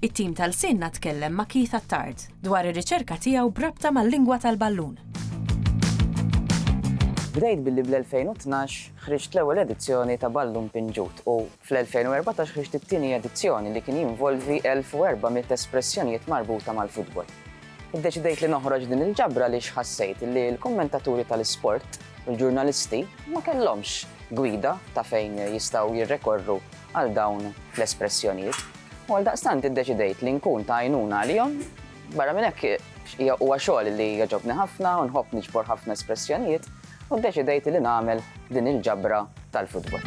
It-tim ta' Lsienna tkellem ma' Keith Attard dwar ir-riċerka tiegħu b'rabta mal-lingwa tal-ballun. Bdejt billi bl-2012 ħriġt l-ewwel edizzjoni ta' Ballun Pinġut u fl-2014 ħriġt it-tieni edizzjoni li kien jinvolvi 1,400 espressjonijiet marbuta mal-futbol. Iddeċidejt li noħroġ din il-ġabra għaliex ħassejt li l-kummentaturi tal-isport u l-ġurnalisti ma kellhomx gwida ta' fejn jistgħu jirrekorru għal dawn l-espressjonijiet. U għaldaqstant iddeċidejt li nkun ta' għajnuna għalihom. Barra minn hekk, huwa xogħol li jogħġobni ħafna u nħobb niġbor ħafna espressjonijiet, u ddeċidejt li nagħmel din il-ġabra tal-futbol.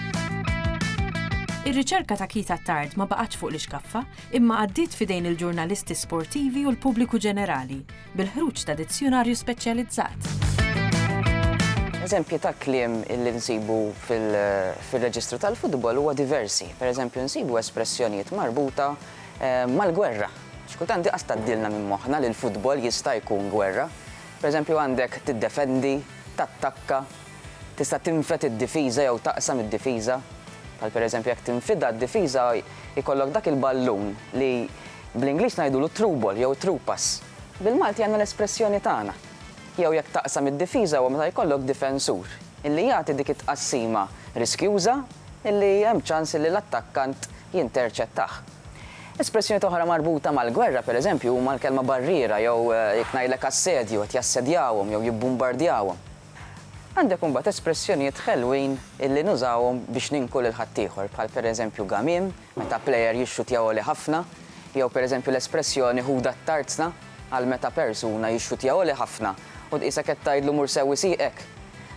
Ir-riċerka ta' Keith Attard ma baqgħetx fuq l-ixkaffa, imma għaddiet f'idejn il-ġurnalisti sportivi u l-pubbliku ġenerali, bil-ħruġ ta' dizzjunarju speċjalizzat. Eżempji ta' kliem li nsibu fir-reġistru tal-futbol huwa diversi. Per eżempju, nsibu espressjonijiet marbuta eh, mal-gwerra. Xkultant diqas taddilna minn moħħna li l-futbol jista' jkun gwerra. Pereżempju għandek tiddefendi, tattakka, tista' tinfed id-difiża jew taqsam id-difiża. Bħal pereżempju jekk tinfidha d-difiża jkollok dak il-ballun li bl-Ingliż ngħidulu t-through ball jew it-through pass. Bil-Malti għandna l-espressjoni tagħna. Jew jekk taqsam id-difiża huwa meta jkollok difensur illi jagħti dik it-tqassima riskjuża illi hemm ċans illi l-attakkant jinterċettah. Espressjonijiet oħra marbuta mal-gwerra, pereżempju, huma l-kelma barriera jew, jekk ngħidlek assedju, qed jassedjawhom jew jibbumbardjawhom. Għandek imbagħad espressjonijiet ħelwin illi nużawhom biex ninku lil ħaddieħor, bħal pereżempju gamiem, meta plejer jixxutja għoli ħafna, jew pereżempju l-espressjoni ħudha t-tarzna għal meta persuna jixxutja għoli ħafna u tqisek qed tgħidlu mur sewwi sieqek.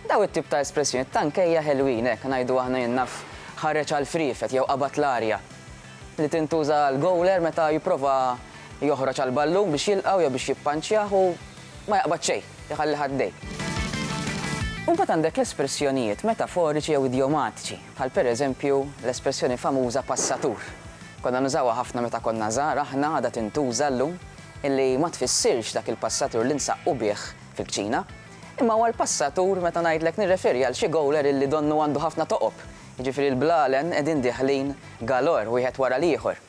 Dawn it-tip ta' espressjonijiet ta' nkejja ħelwin, hekk ngħidu aħna jien naf, ħareġ għall-friefet jew qabad l-arja. li tintuża għall-gowler meta jipprova joħroġ għall-ballun biex jilqgħu jew biex jippanċjah u ma jaqbad xejn, iħalli ħaddejh. Imbagħad għandek l-espressjonijiet metaforiċi jew idjomatiċi, bħal pereżempju l-espressjoni famuża passatur. Konna nużawha ħafna meta konna żgħar aħna, għadha tintuża llum, illi ma tfissirx dak il-passatur li nsaqqu bih fil-kċina, imma huwa l-passatur meta ngħidlek nirreferi għal xi gowler illi donnu għandu ħafna toqob Jiġifieri l-blalen qegħdin dieħlin galore wieħed wara l-ieħor.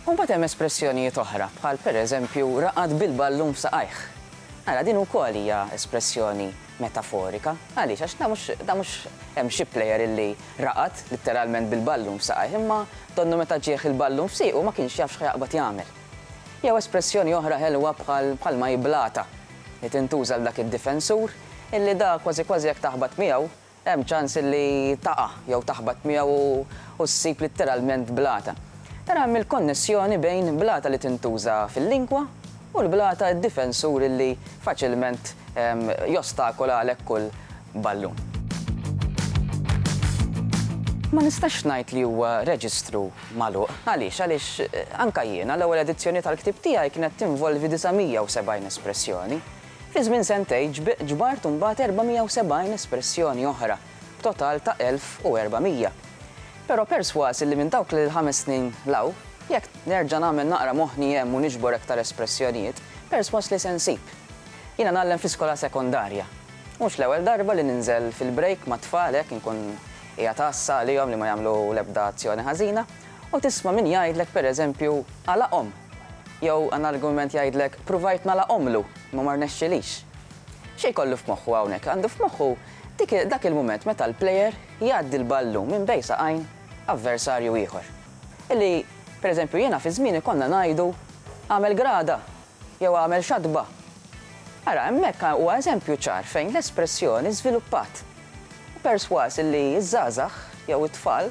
U mbagħad hemm espressjonijiet oħra bħal pereżempju raqad bil-ballun f'saqajh. Ara, din ukoll hija espressjoni metaforika. Għaliex? Għax dan mhux, dan mhux hemm xi plejer illi raqad litteralment bil-ballun f'saqajh, imma donnu meta ġieh il-ballun f'siequ ma kienx jaf x'ħajaqbad jagħmel. Jew espressjoni oħra ħelwa bħal bħalma hi blata, li tintuża għal dak id-difensur illi da kważi kważi jekk taħbat miegħu, Hemm ċans li taqa' jew taħbat miegħu u ssib litteralment blata. Ara hemm il-konnessjoni bejn blata li tintuża fil-lingwa u l-blata d-difensur illi faċilment jostakola għalhekk kull ballun. Ma nistax ngħid li huwa reġistru magħluq. Għaliex? Għaliex anke jiena l-ewwel edizzjoni tal-ktieb tiegħi kienet tinvolvi 970 espressjoni. Fi żmien sentejn ġbart imbagħad 470 espressjoni oħra, b'total ta' 1,400. Però persważ illi minn dawk l-ħames snin 'l hawn, jekk nerġa' nagħmel naqra moħħni hemm u niġbor aktar espressjonijiet, persważ li se nsib. Jiena ngħallem fi skola sekondarja. Mhux l-ewwel darba li ninżel fil-break mat-tfal hekk inkun qiegħed għassa għalihom li ma jagħmlu l-ebda azzjoni ħażina, u tisma' min jgħidlek pereżempju għalaqhom! Jew għan argument jgħidlek, pruvajt nagħlaqhomlu, imma ma rnexxilix. Xi jkollu f'moħħu hawnhekk? Għandu f'moħħu dik dak il-mument meta l-player jgħaddi l-ballun minn bejn saqajn avversarju ieħor. Illi, per eżempju, jiena fi żmieni konna ngħidu għamel grada jew għamel xatba. Ara, hemmhekk huwa eżempju ċar fejn l-espressjoni żviluppat. Persważ illi ż-żgħażagħ jew it-tfal